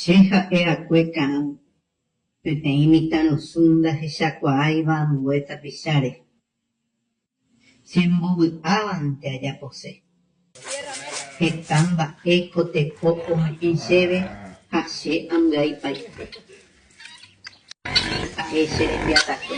Che ha'e akue ka'ã peteĩ mitãrusu ndahechakuaáiva ambue tapicháre. Che mbovy'ávante ajapose. Heta mba'e ko teko ome'ẽ chéve ha che ambyaipaite. Ha'e che rembiasakue.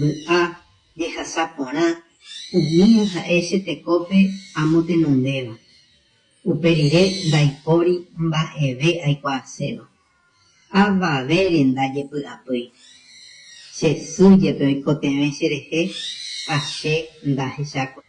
Vy'a jehasa porã, umíva ha'e che tekópe amo tenondéva, upe rire ndaipóri mba'eve aikuaaséva. Avavére ndajepy'apýi. Che sy jepe oikotevẽ che rehe ha che ndahechákuri.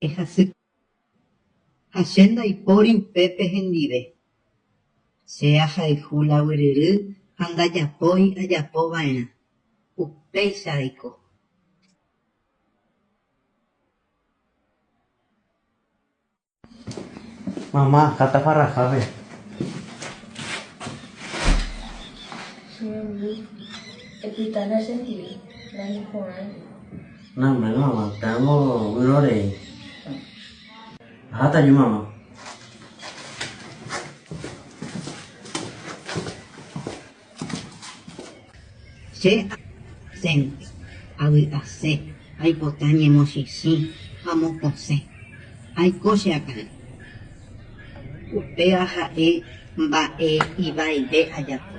Ehasy. Ha che ndaipóri upépe hendive. Che ahayhu la gueryry ha ndajapói ajapo va'erã. Upéicha aiko. Mama, ha taparrahápe. Che memby epyta nasentíri, nañeporãi. Name'ẽva'erã péango vyrorei. Aháta aju mama. Che asénte, avy'ase, aipota ñemosĩsĩ ha mokõsẽ. Aiko che akã. Upéva ha'e mba'e ivaive ajapo.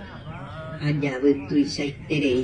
Ajavy tuichaiterei.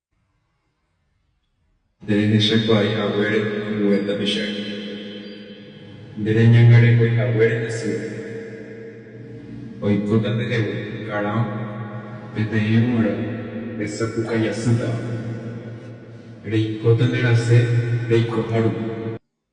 Nde rehecha kuaái haguére ambue tapichápe. Nde reñangarekói haguére Jesús. Oikóta ndehegui, karão, peteĩ g̃uarã resapuka jasýtava. Reikóta nde rasẽ reikoha rupi.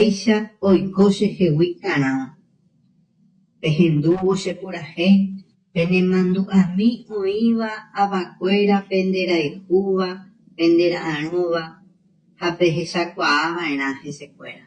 Péicha oiko che hegui karãva, pehendúvo che purahéi, pene mandu'ami oĩva avakuéra pende rayhúva, pende ra'arõva ha pehechakuaa va'erã hesekuéra.